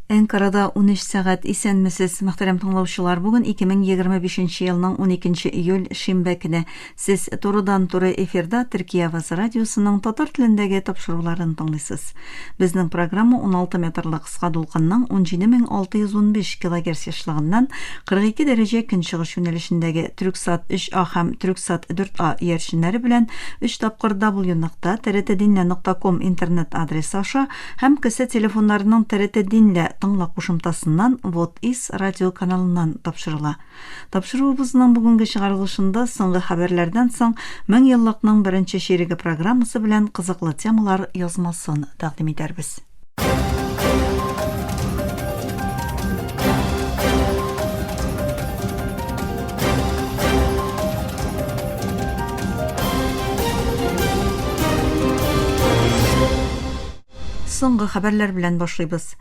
Әнкарада унөч сәгать Исәнмесез, мөхтәрәм тыңлаучылар! Бүген 2025 нче елның уникенче июль, шимбә көне. Сез турыдан-туры эфирда Төркия авазы радиосының татар телендәге тапшыруларын тыңлыйсыз. Безнең программа 16 метрлы кыска дулкынның 17615 килогерц ешлыгыннан 42 дәрәҗә көнчыгыш юнәлешендәге Трюксат 3А һәм Трюксат 4А иярченнәре белән өч тапкыр www.trdtdinle.com интернет адресы аша Һәм кесе телефоннарының ТРТ Динлә тыңла кушымтасыннан Вот из радио каналыннан тапшырыла. Тапшыруыбызның бүгенге чыгарылышында Соңгы хәбәрләрдән соң меңьеллыкның беренче чиреге программасы белән кызыклы темалар язмасын тәкъдим итәрбез. Соңгы хәбәрләр белән башлыйбыз.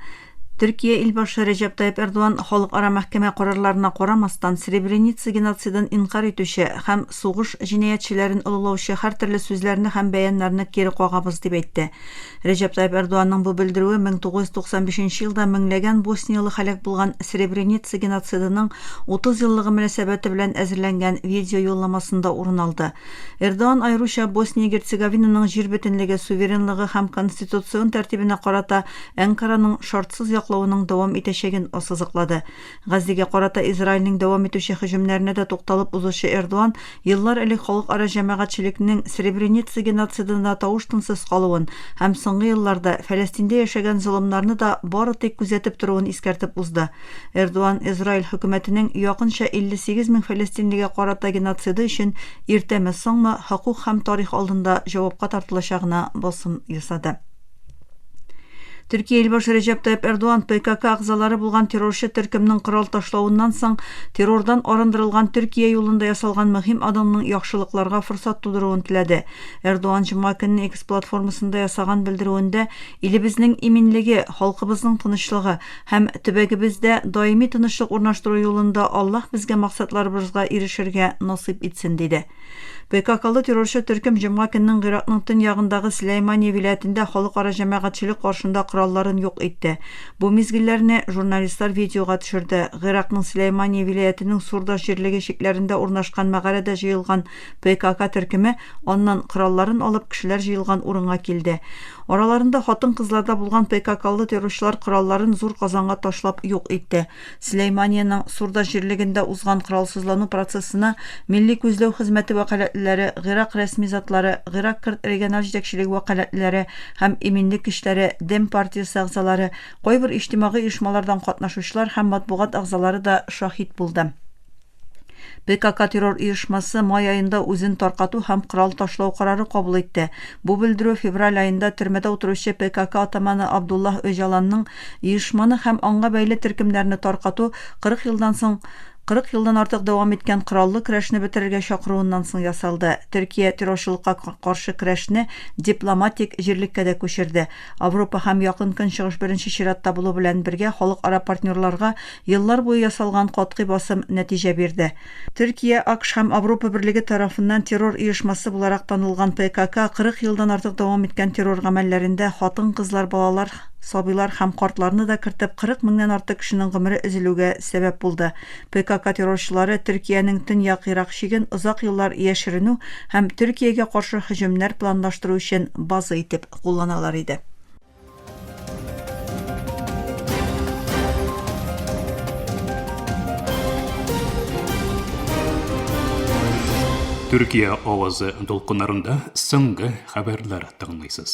Төркия илбашы Рәҗәп Тайып Эрдоган халыкара мәхкәмә карарларына карамастан Сребреница геноцидын инкар итүче һәм Сугыш җинаятьчеләрен олылаучы һәртөрле сүзләрне һәм бәяннарны кире кагабыз, дип әйтте. Рәҗәп Тайып Эрдоганның бу белдерүе 1995 елда меңләгән босниялы һәлак булган Сребреница геноцидының 30 еллыгы мөнәсәбәте белән әзерләнгән видеоюлламасында урын алды. Эрдоган аеруча Босния-Герцеговинаның җир бөтенлеге, суверенлыгы һәм конституцион тәртибенә карата Әнкараның шартсыз яклавының дәвам итәчәген ассызыклады. Газзегә карата Израильнең дәвам итүче һөҗүмнәренә дә тукталып узучы Эрдуан, еллар элек халыкара җәмәгатьчелекнең Сребреница геноцидына тавыш-тынсыз калуын һәм соңгы елларда Фәләстиндә яшәгән золымнарны да бары тик күзәтеп торуын искәртеп узды. Эрдуан Израиль хөкүмәтенең якынча 58 мең фәләстинлегә карата геноциды өчен иртәме-соңмы хокук һәм тарих алдында җавапка тартылачагына басым ясады. Төркия илбашы Рәҗәп Тайып Эрдуан ПКК агзалары булган террорчы төркемнең корал ташлавыннан соң террордан арындырылган Төркия юлында ясалган мөһим адымның яхшылыкларга форсат тудыруын теләде. Эрдуан җомга көнне X платформасында ясаган белдерүендә илебезнең иминлеге, халкыбызның тынычлыгы һәм төбәгебездә даими тынычлык урнаштыру юлында Аллаһ безгә максатларыбызга ирешергә насыйп итсен диде. ПККлы террорчы төркем җомга көннең Гыйракның төньягындагы Сләймания вилаятендә халыкара җәмәгатьчелек каршында коралларын юк итте. Бу мизгелләрне журналистлар видеога төшерде. Гыйракның Сләймания вилаятенең Сурдаш җирлеге чикләрендә урнашкан мәгарәдә җыелган ПКК төркеме аннан коралларын алып кешеләр җыелган урынга килде. Араларында хатын-кызларда булган ПККлы террорчылар коралларын зур казанга ташлап юк итте. Сөләйманиянең Сурда җирлегендә узган коралсызлану процессына Милли күзләү хезмәте вәкаләтлеләре, Гыйрак рәсми затлары, Гыйрак керт региональ җитәкчелеге вәкаләтлеләре һәм иминлек көчләре, Дем партиясе әгъзалары, кайбер иҗтимагый оешмалардан катнашучылар һәм матбугат әгъзалары да шаһит булды. ПКК террор оешмасы май аенда үзен таркату һәм корал ташлау карары кабул итте. Бу белдерү февраль аенда төрмәдә утыручы ПКК атаманы Абдуллаһ Өҗаланның оешманы һәм аңа бәйле төркемнәрне таркату 40 елдан соң 40 елдан артык дәвам иткән кораллы көрәшне бетерергә чакыруыннан соң ясалды. Төркия террорчылыкка каршы көрәшне дипломатик җирлеккә дә күчерде. Авропа һәм Якын Көнчыгыш беренче чиратта булу белән бергә халыкара партнерларга Еллар буе ясалган катгый басым нәтиҗә бирде. Төркия, АКШ һәм Авропа Берлеге тарафыннан террор оешмасы буларак танылган ПКК 40 елдан артык дәвам иткән террор гамәлләрендә хатын-кызлар, балалар, сабыйлар һәм картларны да кертеп 40 меңнән артык кешенең гомере өзелүгә сәбәп булды. ПКК террорчылары Төркиянең төньяк Ирак чиген озак еллар яшеренү һәм Төркиягә каршы һөҗүмнәр планлаштыру өчен база итеп кулланалар иде. Төркия авазы дулкыннарында соңгы хәбәрләр тыңлыйсыз.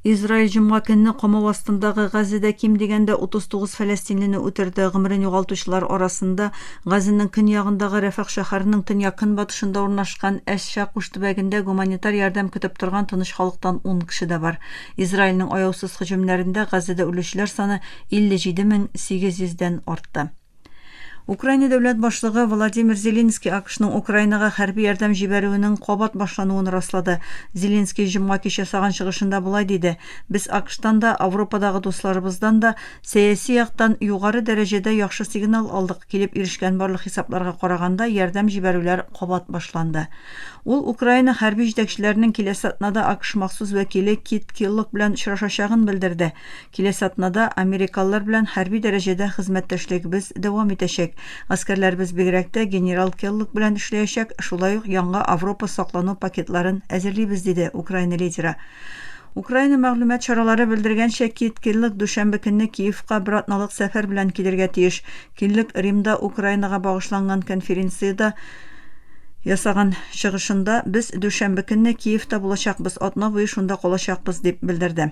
Израиль җомга көнне камау астындагы Газзада ким дигәндә 39 фәләстинлине үтерде. Гомерен югалтучылар арасында Газзаның көньягындагы Рәфах шәһәренең төньяк-көнбатышында урнашкан Әш-Шакуш төбәгендә гуманитар ярдәм көтеп торган тыныч халыктан ун кеше дә бар. Израильнең аяусыз һөҗүмнәрендә Газзәдә үлүчеләр саны 57 мең 800 дән артты. Украина дәүләт башлыгы Владимир Зеленский АКШның Украинага хәрби ярдәм җибәрүенең кабат башлануын раслады. Зеленский җомга кич ясаган чыгышында болай диде, Без АКШтан да, Авропадагы дусларыбыздан да Сәяси яктан югары дәрәҗәдә яхшы сигнал алдык, килеп ирешкән барлык хисапларга караганда, ярдәм җибәрүләр кабат башланды. Ул Украина хәрби җитәкчеләренең киләсе атнада АКШ махсус вәкиле Кит Киллог белән очрашачагын белдерде. Киләсе атнада америкалылар белән хәрби дәрәҗәдә хезмәттәшлегебез дәвам итәчәк. Гаскәрләребез бигрәк тә генерал Келлог белән эшләячәк, шулай ук яңа Авропа саклану пакетларын әзерлибез, диде Украина лидеры. Украина мәгълүмат чаралары белдергәнчә, Кит Киллог дүшәмбе көнне Киевка бер атналык сәфәр белән килергә тиеш. Киллог Римда Украинага багышланган конференциядә ясаган чыгышында, Без дүшәмбе көнне Киевта булачакбыз, атна буе шунда калачакбыз, дип белдерде.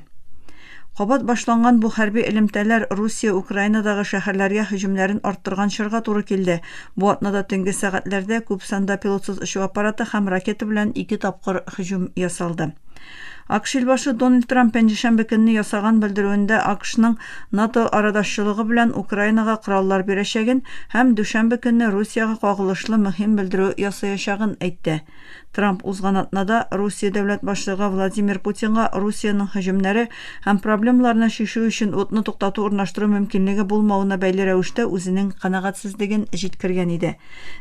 Кабат башланган бу хәрби элемтәләр Русия Украинадагы шәһәрләргә һөҗүмнәрен арттырган чорга туры килде. Бу атнада төнге сәгатьләрдә күп санда пилотсыз очу аппараты һәм ракета белән ике тапкыр һөҗүм ясалды. АКШ илбашы Дональд Трамп пәнҗешәмбе көнне ясаган белдерүендә АКШның НАТО арадашчылыгы белән Украинага кораллар бирәчәген һәм дүшәмбе көнне Русиягә кагылышлы мөһим белдерү ясаячагын әйтте. Трамп узган атнада Русия дәүләт башлыгы Владимир Путинга Русиянең һөҗүмнәре һәм проблемаларны чишү өчен утны туктату урнаштыру мөмкинлеге булмавына бәйле рәвештә үзенең канәгатьсезлеген җиткергән иде.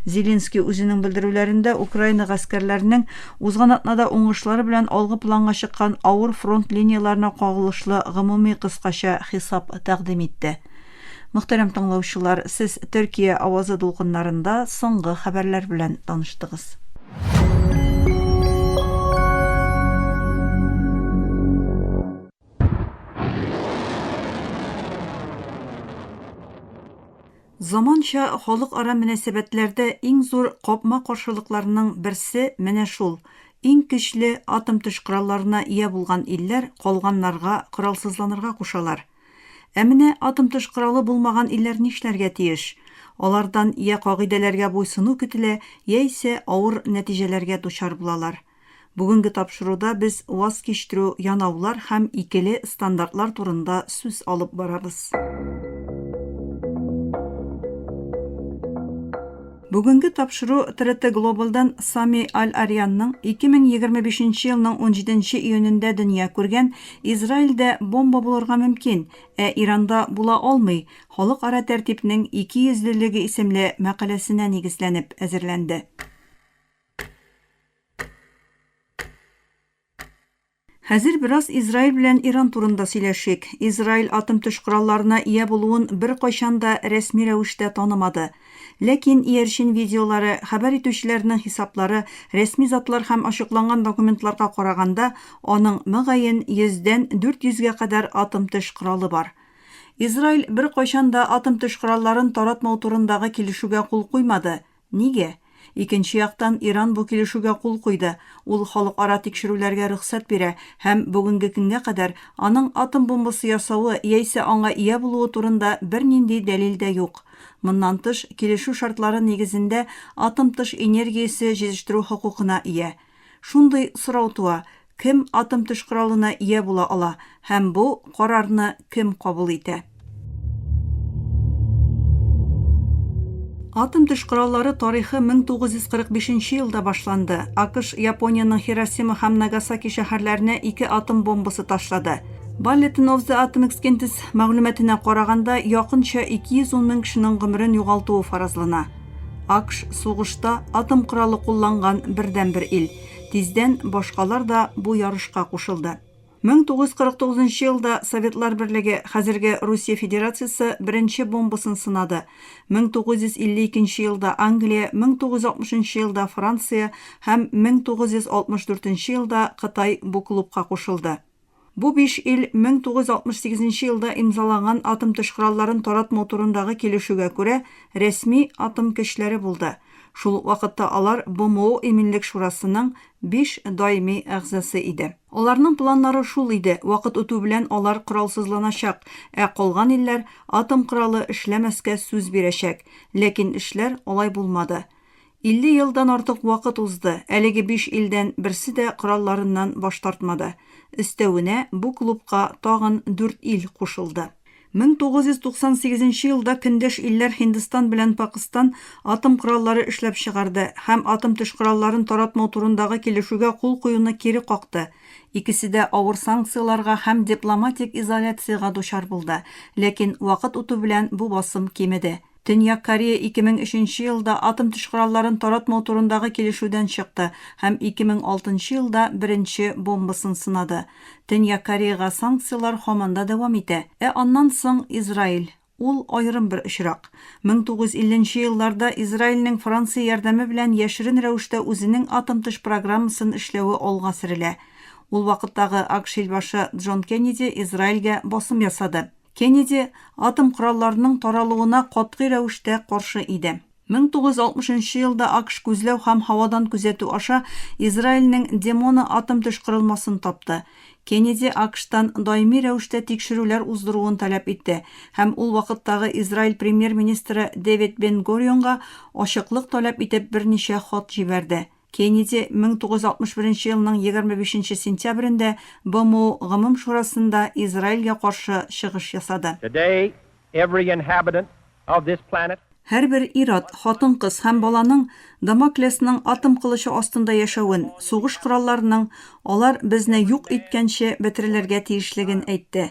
Зеленский үзенең белдерүләрендә Украина гаскәрләренең узган атнада уңышлар белән алгы планга чыккан авыр фронт линияләренә кагылышлы гомуми кыскача хисап тәкъдим итте. Мөхтәрәм тыңлаучылар, сез Төркия авазы дулкыннарында соңгы хәбәрләр белән таныштыгыз. Заманча халыкара мөнәсәбәтләрдә иң зур капма-каршылыкларның берсе менә шул, иң көчле атом төш коралларына ия булган илләр калганнарга коралсызланырга кушалар. Ә менә атом тыш коралы булмаган илләр нишләргә тиеш? Алардан йә кагыйдәләргә буйсыну көтелә, яисә авыр нәтиҗәләргә дучар булалар. Бүгенге тапшыруда без ваз кичтерү, янаулар һәм икеле стандартлар турында сүз алып барабыз. Бүгенге тапшыру ТРТ Глобалдан Сами Аль-Арианның 2025 елның 17 июнендә дөнья күргән Израильдә бомба булырга мөмкин, ә Иранда була алмый, халыкара тәртипнең икейөзлелеге исемле мәкаләсенә нигезләнеп әзерләнде. Хәзер бераз Израиль белән Иран турында сөйләшик. Израиль атом төш коралларына ия булуын беркайчан да рәсми рәвештә танымады. Ләкин иярчен видеолары, хәбәр итүчеләрнең хисаплары, рәсми затлар һәм ачыкланган документларга караганда, аның, мөгаен, йөздән дүрт йөзгә кадәр атом төш коралы бар. Израиль беркайчан да атом төш коралларын таратмау турындагы килешүгә кул куймады, Нигә? Икенче яктан, Иран бу килешүгә кул куйды, ул халыкара тикшерүләргә рөхсәт бирә һәм бүгенге көнгә кадәр аның атом бомбасы ясавы яисә аңа ия булуы турында бернинди дәлил дә юк. Моннан тыш, килешү шартлары нигезендә атом тыш энергиясе җитештерү хокукына ия. Шундый сорау туа, Кем атом төш коралына ия була ала һәм бу карарны кем кабул итә? Атом төш кораллары тарихы 1945 нче елда башланды. АКШ Япониянең Хиросима һәм Нагасаки шәһәрләренә ике атом бомбасы ташлады. Bulletin of the Atomic Scientists мәгълүматына караганда, якынча 210 мең кешенең гомерен югалтуы фаразлана. АКШ сугышта атом коралы кулланган бердәнбер ил. Тиздән башкалар да бу ярышка кушылды. 1949 нчы елда Советлар Берлеге, хәзерге Русия Федерациясе, беренче бомбасын сынады. 1952 нче елда Англия, 1960 нчы елда Франция һәм 1964 нче елда Кытай бу клубка кушылды. Бу биш ил 1968 елда имзаланган атом төш коралларын таратмау турындагы килешүгә күрә рәсми атом көчләре булды, шул ук вакытта алар БМО Иминлек шурасының биш даими әгъзасы иде. Аларның планнары шул иде, вакыт үтү белән алар коралсызланачак, ә калган илләр атом коралы эшләмәскә сүз бирәчәк, ләкин эшләр алай булмады. 50 елдан артык вакыт узды, әлеге биш илдән берсе дә коралларыннан баш тартмады. Өстәвенә, бу клубка тагын дүрт ил кушылды. 1998 нче елда көндәш илләр Һиндстан белән Пакыстан атом кораллары эшләп чыгарды һәм атом төш коралларын таратмау турындагы килешүгә кул куюны кире какты. Икесе дә авыр санкцияләргә һәм дипломатик изоляциягә дучар булды, ләкин вакыт үтү белән бу басым кимеде. Төньяк Корея 2003 нче елда атом төш коралларын таратмау турындагы килешүдән чыкты һәм 2006 нчы елда беренче бомбасын сынады. Төньяк Кореяга санкцияләр һаман да дәвам итә. Ә аннан соң, Израиль. Ул, аерым бер очрак. 1950 нче елларда Израильнең Франция ярдәме белән яшерен рәвештә үзенең атом төш программасын эшләве алга сөрелә. Ул вакыттагы АКШ илбашы Джон Кеннеди Израильгә басым ясады. Кеннеди атом коралларының таралуына катгый рәвештә каршы иде. 1960 нчы елда АКШ күзләү һәм һавадан күзәтү аша Израильнең Демона атом төш корылмасын тапты. Кеннеди АКШтан даими рәвештә тикшерүләр уздыруын таләп итте һәм ул вакыттагы Израиль премьер-министры Дэвид Бен-Горионга ачыклык таләп итеп берничә хат җибәрде. Кеннеди 1961 елның 25 нче сентябрендә БМО Гомум шурасында Израильгә каршы чыгыш ясады. Today every inhabitant of this planet. Һәрбер ир-ат, хатын-кыз һәм баланың Дамоклесның атом кылычы астында яшәвен, сугыш коралларының алар безне юк иткәнче бетерелергә тиешлеген әйтте.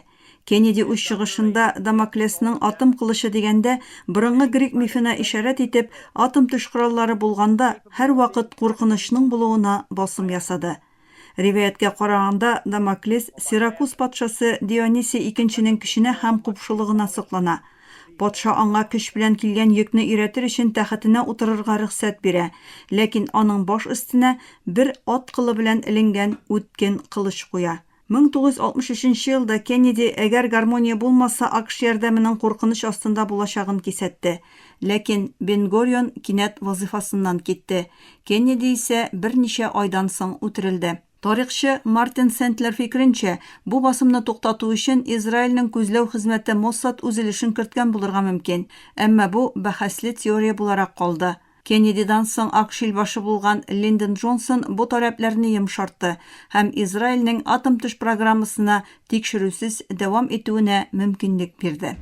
Кеннеди үз чыгышында Дамоклесның атом кылычы дигәндә, борынгы грек мифына ишарәт итеп, атом төш кораллары булганда, һәрвакыт куркынычның булуына басым ясады. Риваятькә караганда, Дамоклес Сиракуз патшасы Дионисий икенченең көченә һәм купшылыгына соклана. Патша аңа көч белән килгән йөкне өйрәтер өчен тәхетенә утырырга рөхсәт бирә, ләкин аның баш өстенә бер ат кылы белән эленгән үткен кылыч куя. 1963 нче елда Кеннеди әгәр гармония булмаса АКШ ярдәменең куркыныч астында булачагын кисәтте. Ләкин Бен-Горион кинәт вазыйфасыннан китте. Кеннеди исә берничә айдан соң үтерелде. Тарихчы Мартин Сентлер фикеренчә, бу басымны туктату өчен Израильнең күзләү хезмәте Моссад үзелешен керткән булырга мөмкин. Әмма бу бәхәсле теория буларак калды. Кеннедидан соң Ак шил башы булган Линдон Джонсон бу таләпләрне йомшартты һәм Израильнең атом төш программасына тикшерүсез дәвам итүенә мөмкинлек бирде.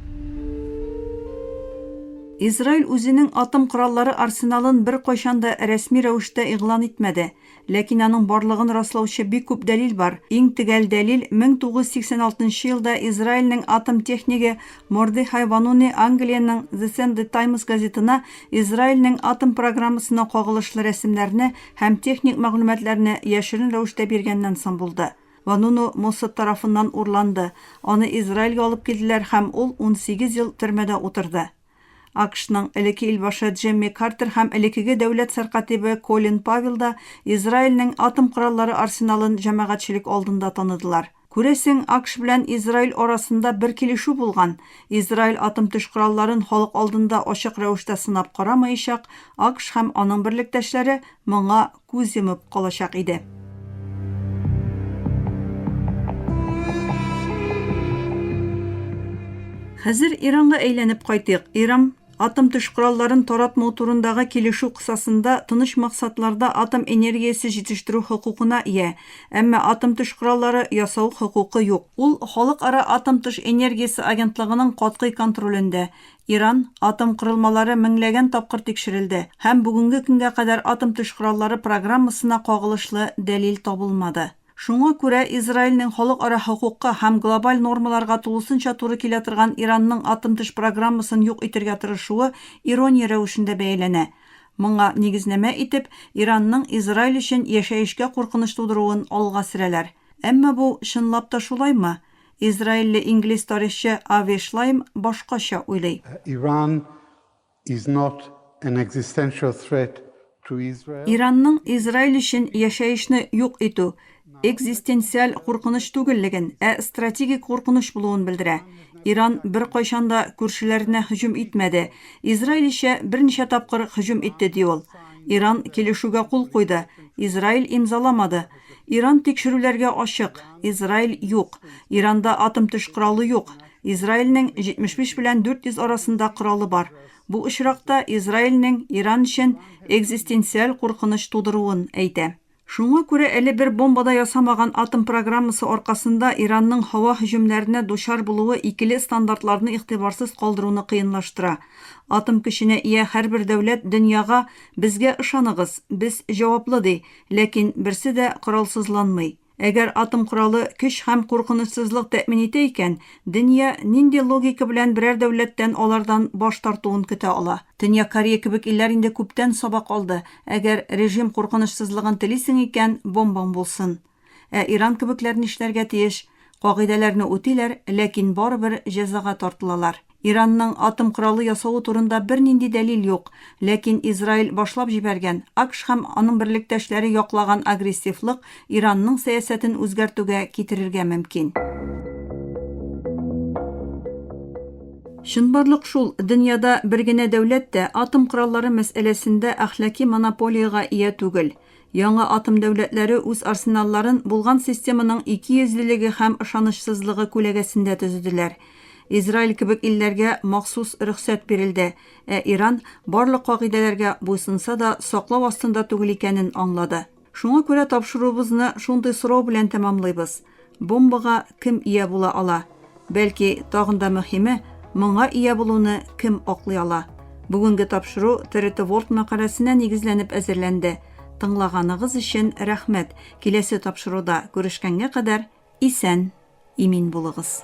Израиль үзенең атом кораллары арсеналын беркайчан да рәсми рәвештә игълан итмәде. Ләкин аның барлыгын раслаучы бик күп дәлил бар. Иң төгәл дәлил, 1986 нчы елда Израильнең атом технигы Мордехай Вануни Англиянең The Sunday Times газетына Израильнең атом программасына кагылышлы рәсемнәрне һәм техник мәгълүматларны яшерен рәвештә биргәннән соң булды. Вануну Моссад тарафыннан урланды, аны Израильгә алып килделәр һәм ул унсигез ел төрмәдә утырды. АКШның элекке илбашы Джемми Картер һәм элеккеге дәүләт сәркатибе Колин Павел да Израильнең атом кораллары арсеналын җәмәгатьчелек алдында таныдылар. Күрәсең, АКШ белән Израиль арасында бер килешү булган, Израиль атом төш коралларын халык алдында ачык рәвештә сынап карамаячак, АКШ һәм аның берлектәшләре моңа күз йомып калачак иде. Хәзер Иранга әйләнеп кайтыйк. Ирам атом төш коралларын таратмау турындагы килешү кысасында тыныч максатларда атом энергиясе җитештерү хокукына ия, әмма атом төш кораллары ясау хокукы юк. Ул Халыкара атом төш энергиясе агентлыгының катгый контролендә, Иран атом корылмалары меңләгән тапкыр тикшерелде, һәм бүгенге көнгә кадәр атом төш кораллары программасына кагылышлы дәлил табылмады. Шуңа күрә Израильнең халыкара хокукка һәм глобаль нормаларга тулысынча туры килә торган Иранның атом төш программасын юк итергә тырышуы ирония рәвешендә бәяләнә. Моңа нигезнәмә итеп, Иранның Израиль өчен яшәешкә куркыныч тудыруын алга сөрәләр. Әмма бу чынлап та шулаймы? Израильле-инглиз тарихчы Ави Шлайм башкача уйлый. Иранның Израиль өчен яшәешне юк итү экзистенциаль куркыныч түгеллеген, ә стратегик куркыныч булуын белдерә. Иран беркайчан да күршеләренә һөҗүм итмәде, Израиль исә берничә тапкыр һөҗүм итте, ди ул. Иран килешүгә кул куйды, Израиль имзаламады. Иран тикшерүләргә ачык. Израиль, юк. Иранда атом төш коралы юк. Израильнең 75 белән 400 арасында коралы бар. Бу очракта Израильнең Иран өчен экзистенциаль куркыныч тудыруын әйтә. Шуңа күрә әле бер бомба да ясамаган атом программасы аркасында Иранның һава һөҗүмнәренә дучар булуы икеле стандартларны игътибарсыз калдыруны кыенлаштыра. Атом көченә ия һәрбер дәүләт дөньяга, Безгә ышаныгыз, без җаваплы, ди. Ләкин берсе дә коралсызланмый. Әгәр атом коралы көч һәм куркынычсызлык тәэмин итә икән, дөнья нинди логика белән берәр дәүләттән алардан баш тартуын көтә ала? Төньяк Корея кебек илләр инде күптән сабак алды, әгәр режим куркынычсызлыгын телисең икән, бомбаң булсын. Ә Иран кебекләр нишләргә тиеш? Кагыйдәләрне үтиләр, ләкин барыбер җәзага тартылалар. Иранның атом коралы ясавы турында бернинди дәлил юк, ләкин Израиль башлап җибәргән, АКШ һәм аның берлектәшләре яклаган агрессивлык Иранның сәясәтен үзгәртүгә китерергә мөмкин. Чынбарлык шул, дөньяда бер генә дәүләт тә атом кораллары мәсьәләсендә әхлаки монополиягә ия түгел. Яңа атом дәүләтләре үз арсеналларын булган системаның икейөзлелеге һәм ышанычсызлыгы күләгәсендә төзеделәр. Израиль кебек илләргә махсус рөхсәт бирелде, ә Иран барлык кагыйдәләргә буйсынса да саклау астында түгел икәнен аңлады. Шуңа күрә тапшыруыбызны шундый сорау белән тәмамлыйбыз, Бомбага кем ия була ала? Бәлки, тагын да мөһиме, моңа ия булуны кем аклый ала? Бүгенге тапшыру ТРТ World мәкаләсенә нигезләнеп әзерләнде. Тыңлаганыгыз өчен рәхмәт. Киләсе тапшыруда күрешкәнгә кадәр исән, имин булыгыз.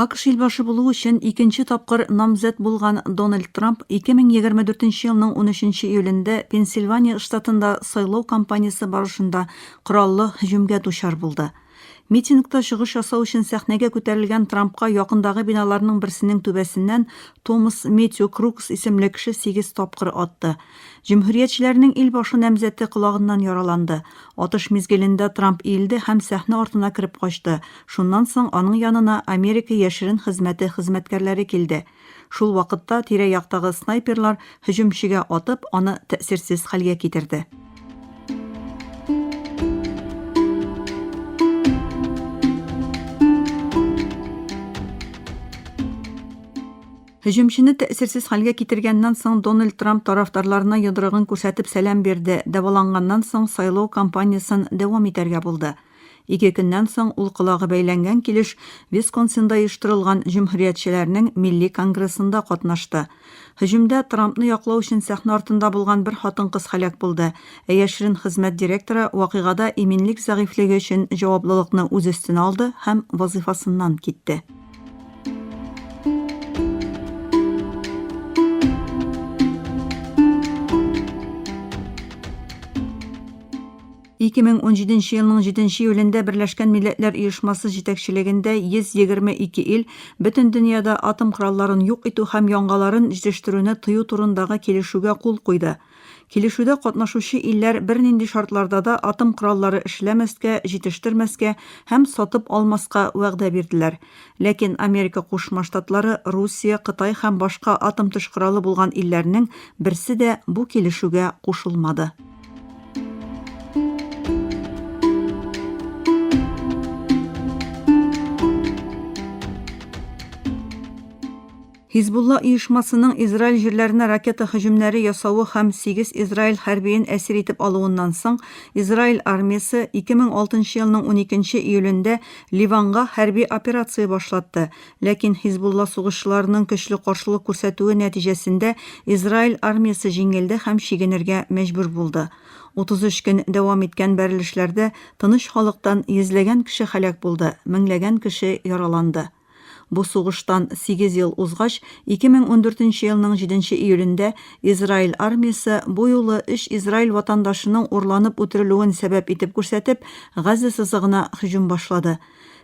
АКШ илбашы булу өчен икенче тапкыр намзәт булган Дональд Трамп 2024 елның 13 июлендә Пенсильвания штатында сайлау кампаниясе барышында кораллы һөҗүмгә дучар булды. Митингта чыгыш ясау өчен сәхнәгә күтәрелгән Трампка якындагы биналарның берсенең түбәсеннән Томас Метью Крукс исемле кеше сигез тапкыр атты. Җөмһүриятчеләрнең ил башы намзәте колагыннан яраланды. Атыш мизгелендә Трамп иелде һәм сәхнә артына кереп качты. Шуннан соң аның янына Америка яшерен хезмәте хезмәткәрләре килде. Шул вакытта тирә-яктагы снайперлар һөҗүмчегә атып, аны тәэсирсез хәлгә китерде. Һөҗүмчене тәэсирсез хәлгә китергәннән соң Дональд Трамп тарафдарларына йодрыгын күрсәтеп сәлам бирде, дәваланганнан соң сайлау кампаниясен дәвам итәргә булды. Ике көннән соң ул колагы бәйләнгән килеш Висконсинда оештырылган җөмһүриятчеләрнең милли конгрессында катнашты. Һөҗүмдә Трампны яклау өчен сәхнә артында булган бер хатын-кыз һәлак булды, ә яшерен хезмәт директоры вакыйгада иминлек зәгыйфьлеге өчен җаваплылыкны үз өстенә алды һәм вазыйфасыннан китте. Ике мең унжиденче елның җиденче июлендә Берләшкән Милләтләр Оешмасы җитәкчелегендә 122 ил бөтен дөньяда атом коралларын юк итү һәм яңаларын җитештерүне тыю турындагы килешүгә кул куйды. Килешүдә катнашучы илләр бернинди шартларда да атом кораллары эшләмәскә, җитештермәскә һәм сатып алмаска вәгъдә бирделәр. Ләкин Америка Кушма Штатлары, Русия, Кытай һәм башка атом төш коралы булган илләрнең берсе дә бу килешүгә кушылмады. Хизбулла оешмасының Израиль җирләренә ракета һөҗүмнәре ясавы һәм сигез израиль хәрбиен әсир итеп алуыннан соң, Израиль армиясе 2006 елның уникенче июлендә Ливанга хәрби операция башлатты, ләкин Хизбулла сугышчыларының көчле каршылык күрсәтүе нәтиҗәсендә Израиль армиясе җиңелде һәм чигенергә мәҗбүр булды. 33 көн дәвам иткән бәрелешләрдә тыныч халыктан йөзләгән кеше һәлак булды, меңләгән кеше яраланды. Бу сугыштан сигез ел узгач, 2014 нче елның җиденче июлендә Израиль армиясе, бу юлы өч израиль ватандашының урланып үтерелүен сәбәп итеп күрсәтеп, Газа сызыгына һөҗүм башлады.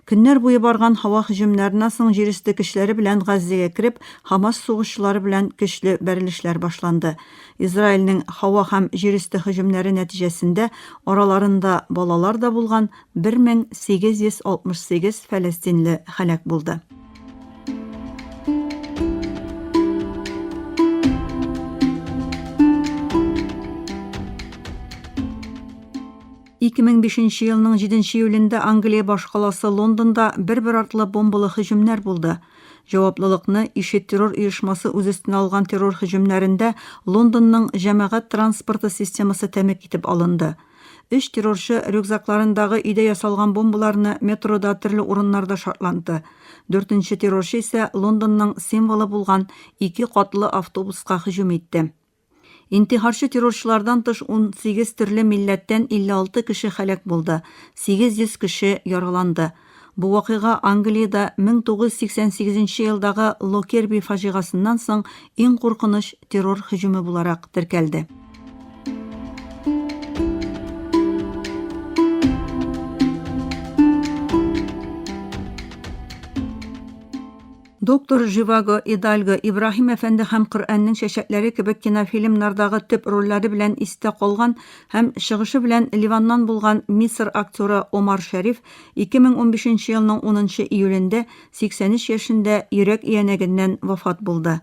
Көннәр буе барган һава һөҗүмнәреннән соң җирөсте көчләре белән Газзәгә кереп, Хамас сугышчылары белән көчле бәрелешләр башланды. Израильнең һава һәм җирөсте һөҗүмнәре нәтиҗәсендә араларында балалар да булган, 1868 фәләстинле һәлак булды. Ике мең бишенче елның җиденче июлендә Англия башкаласы Лондонда бер-бер артлы бомбалы һөҗүмнәр булды. Җаваплылыкны ИШИД террор оешмасы үз өстенә алган террор һөҗүмнәрендә Лондонның җәмәгать транспорты системасы тәмәк итеп алынды. Өч террорчы рюкзакларындагы өйдә ясалган бомбаларны метрода төрле урыннарда шартланты. Дүртенче террорчы исә Лондонның символы булган ике катлы автобуска һөҗүм итте. Интихарчы террорчылардан тыш 18 төрле милләттән 56 кеше һәлак булды, 800 кеше яраланды. Бу вакыйга Англиядә 1988 елдагы Локерби фаҗигасыннан соң иң куркыныч террор һөҗүме буларак теркәлде. Доктор Живаго, Идальго, Ибраһим әфәнде һәм Коръәннең чәчәкләре кебек кинофильмнардагы төп рольләре белән истә калган һәм чыгышы белән Ливаннан булган Мисыр актеры Омар Шәриф 2015 елның 10 июлендә 83 яшендә йөрәк иянәгеннән вафат булды.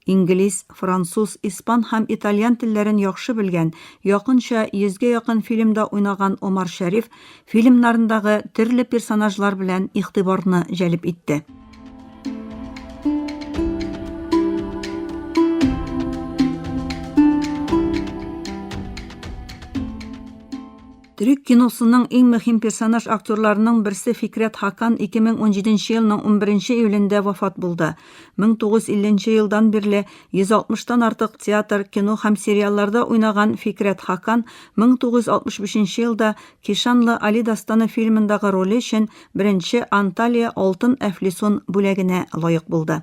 Инглиз, француз, испан һәм итальян телләрен яхшы белгән, якынча йөзгә якын фильмда уйнаган Омар Шәриф фильмнарындагы төрле персонажлар белән игътибарны җәлеп итте. Төрек киносының иң мөһим персонаж актерларының берсе Фикрәт Хакан 2017 елның 11 июлендә вафат булды. 1950 нче елдан бирле 160 тан артык театр, кино һәм сериалларда уйнаган Фикрәт Хакан 1965 елда Кишанлы Али дастаны фильмындагы роле өчен беренче Анталия Алтын әфлисун бүләгенә лаек булды.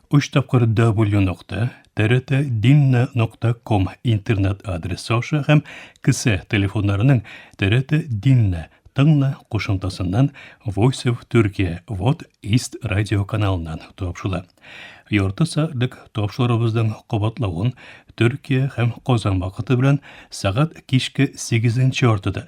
Өч тапкыр W нокта, TRT Dinna нокта ком интернет адресы аша һәм кесә телефоннарының TRT Dinna тыңна кушымтасыннан Voice of Turkey Вот East радио каналыннан тапшыла. Ярты сәгатьлек тапшырыбызның кабатлавын Төркия һәм Казан вакыты белән сәгать кичке 8 яртыда